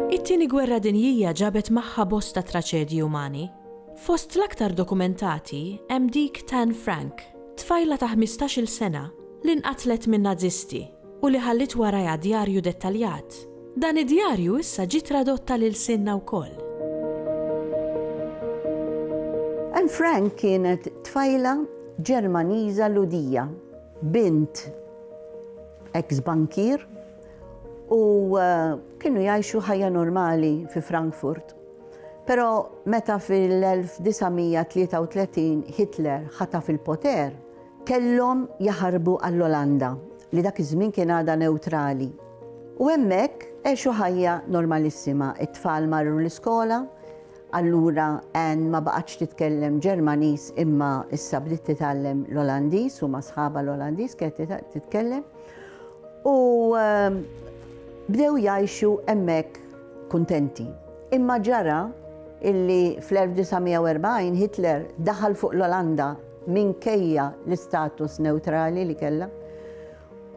It-Tieni Gwerra Dinjija ġabet magħha bosta traċedji umani. Fost l-aktar dokumentati hemm dik t'Anne Frank, tfajla ta' ħmistax-il sena li nqatlet min-Nażisti. u li ħalliet warajha djarju dettaljat. Dan id-djarju issa ġie tradott għal ilsienna wkoll. Anne Frank kienet tfajla Ġermaniża Lhudija, bint eks bankier u eh, kienu jgħixu ħajja normali fi Frankfurt. Però meta fil-1933 Hitler ħataf il-poter, Kellhom jaħarbu għall-Olanda, li dak iż-żmien kien għadha newtrali, u hemmhekk għexu ħajja normalissima. It-tfal marru l-iskola, allura Anne ma baqgħetx titkellem Ġermaniż imma issa bdiet titgħallem l-Olandiż u ma' sħabha l-Olandiż kienet titkellem. U ehm, bdew jgħixu hemmhekk kuntenti. Imma ġara illi fl-1940 Hitler daħal fuq l-Olanda minkejja l-istatus newtrali li kellha,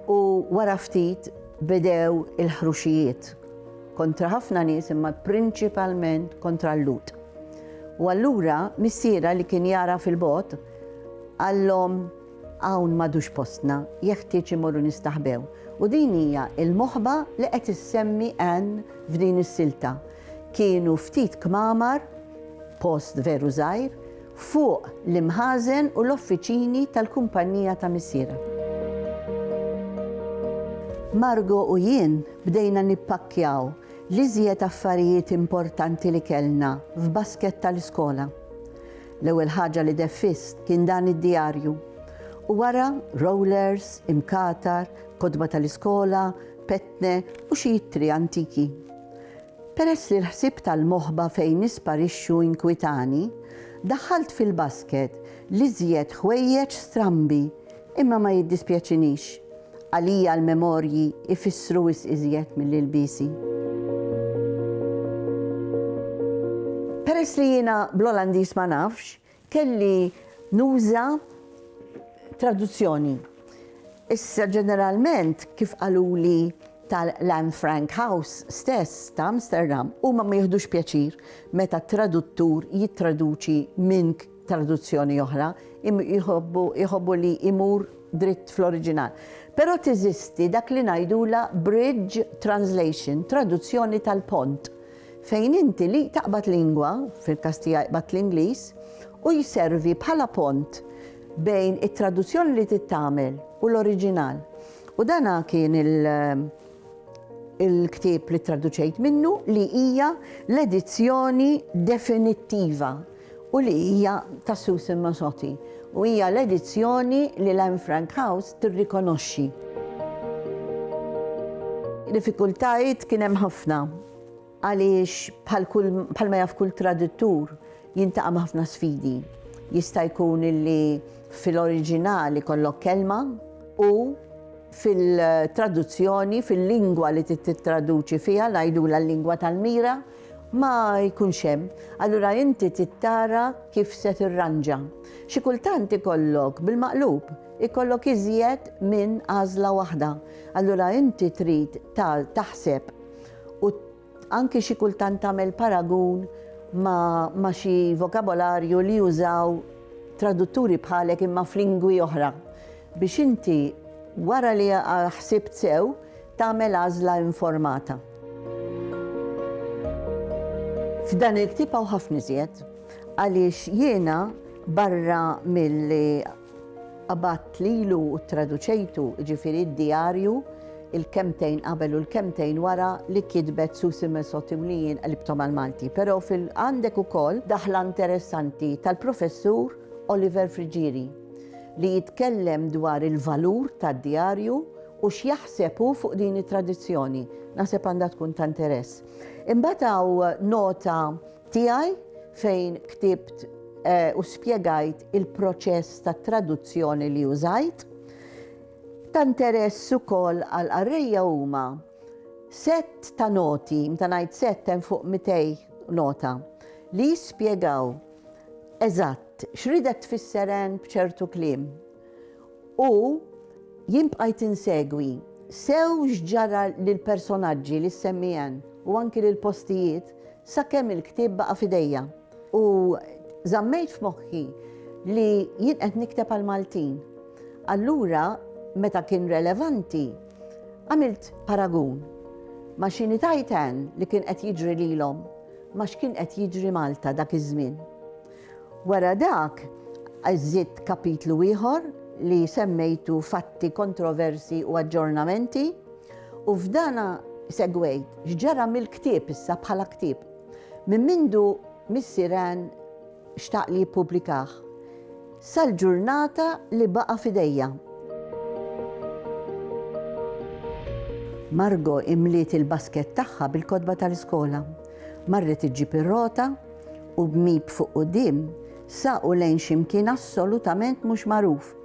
u wara ftit bedew il-ħruxijiet kontra ħafna nies imma prinċipalment kontra l-Lut. U allura missiera li kien jara fil-bot għallhom hawn madux postna, jeħtieġ imorru nistaħbew. U din hija il-moħba li qed issemmi Ann f'din is-silta. Kienu ftit kmamar, post veru żgħir, fuq l-imħażen u l-offiċini tal-kumpannija ta' missierha. Margo u jien bdejna nippakkjaw l-iżjed affarijiet importanti li kellna f'basket tal-iskola. L-ewwel ħaġa li deffiżt kien dan id-djarju, u wara rollers, imkatar, kotba tal-iskola, petne u xi ittri antiki. Peress li l-ħsieb tal-moħba fejn nisparixxu inkwitani, daħħalt fil-basket l-iżjed ħwejjeġ strambi, imma ma jiddispjaċinix. Għalija l-memorji jfissru wisq iżjed mill-ilbiesi. Peress li jiena bl-Olandiż ma nafx, Kelli nuża traduzzjoni. Issa ġeneralment, kif qaluli tal-Anne Frank House stess ta' Amsterdam, huma ma jieħdux pjaċir meta traduttur jittraduċi minn traduzzjoni oħra, jħobbu li jmur dritt fl-oriġinal. Però teżisti dak li ngħidulha bridge translation, traduzzjoni tal-pont. Fejn inti li taqbad lingwa, fil-każ tiegħi qbadt l-Ingliż, u jservi bħala pont bejn it-traduzzjoni li trid tagħmel u l-oriġinal. U dan kien il-ktieb li ttraduċejt minnu li hija l-edizzjoni definittiva u li hija ta' Susan Masotti u hija l-edizzjoni li l-Anne Frank House tirrikonoxxi. Diffikultajiet kien hemm ħafna għaliex bħal kull bħal ma jaf kull traduttur jintaqa' ma' ħafna sfidi. Jista' jkun li fil-oriġinal ikollok kelma u fil-traduzzjoni, fil-lingwa li tittraduċi fiha, ngħidulha l-lingwa tal-mira, ma jkunx hemm, allura inti trid tara kif se tirranġa. Xi kultant ikollok bil-maqlub, ikollok iżjed minn għażla waħda, allura inti trid taħseb u anki xi kultant tagħmel paragun ma' xi vokabolarju li jużaw tradutturi bħalek imma f'lingwi oħra biex inti wara li ħsibt sew Tagħmel għażla informata. F'dan il-ktieb hawn ħafna iżjed għaliex jiena barra milli qabadt lilu u traduċejtu ġifieri d-djarju il-kemtejn qabel u l-kemtejn wara li kitbet Susi Mesoti u li jien qalibtom għal-Malti. Però fil-għandek ukoll daħla interessanti tal-professur Oliver Frigieri. li jitkellem dwar il-valur tad-djarju u x'jaħseb hu fuq din it-tradizzjoni. Naħseb għandha tkun ta' interess. Imbagħad hawn nota tiegħi fejn ktibt eh, u spjegajt il-proċess ta' traduzzjoni li użajt. Ta' interess ukoll għal qarrejja huma set ta' noti, mta ngħid set hemm fuq 200 nota li jispjegaw Eżatt, x'ridek tfisser Anne b'ċertu kliem? U jien bqajt insegwi sew x'ġara lill-personaġġi li ssemmi Anne u anki lill-postijiet sakemm il-ktieb baqa' f'idejja. U żammejt f'moħħi li jien qed nikteb għall-Maltin. Allura, meta kien relevanti, għamilt paragun ma' xi ngħid Anne li kien qed jiġri lilhom. ma x'kien qed jiġri Malta dak iż-żmien. Wara dak żidt kapitlu ieħor li semmejtu fatti kontroversi u aġġornamenti u f'dana segwejt x'ġara mill-ktieb issa bħala ktieb. Minn mindu Missier Ann xtaq li jippubblikah sal-ġurnata li baqa' f'idejja. Margo imliet il-basket tagħha bil-kotba tal-iskola. Marret iġġib ir-rota u b'mip fuq quddiem saqu lejn xi mkien assolutament mhux magħruf.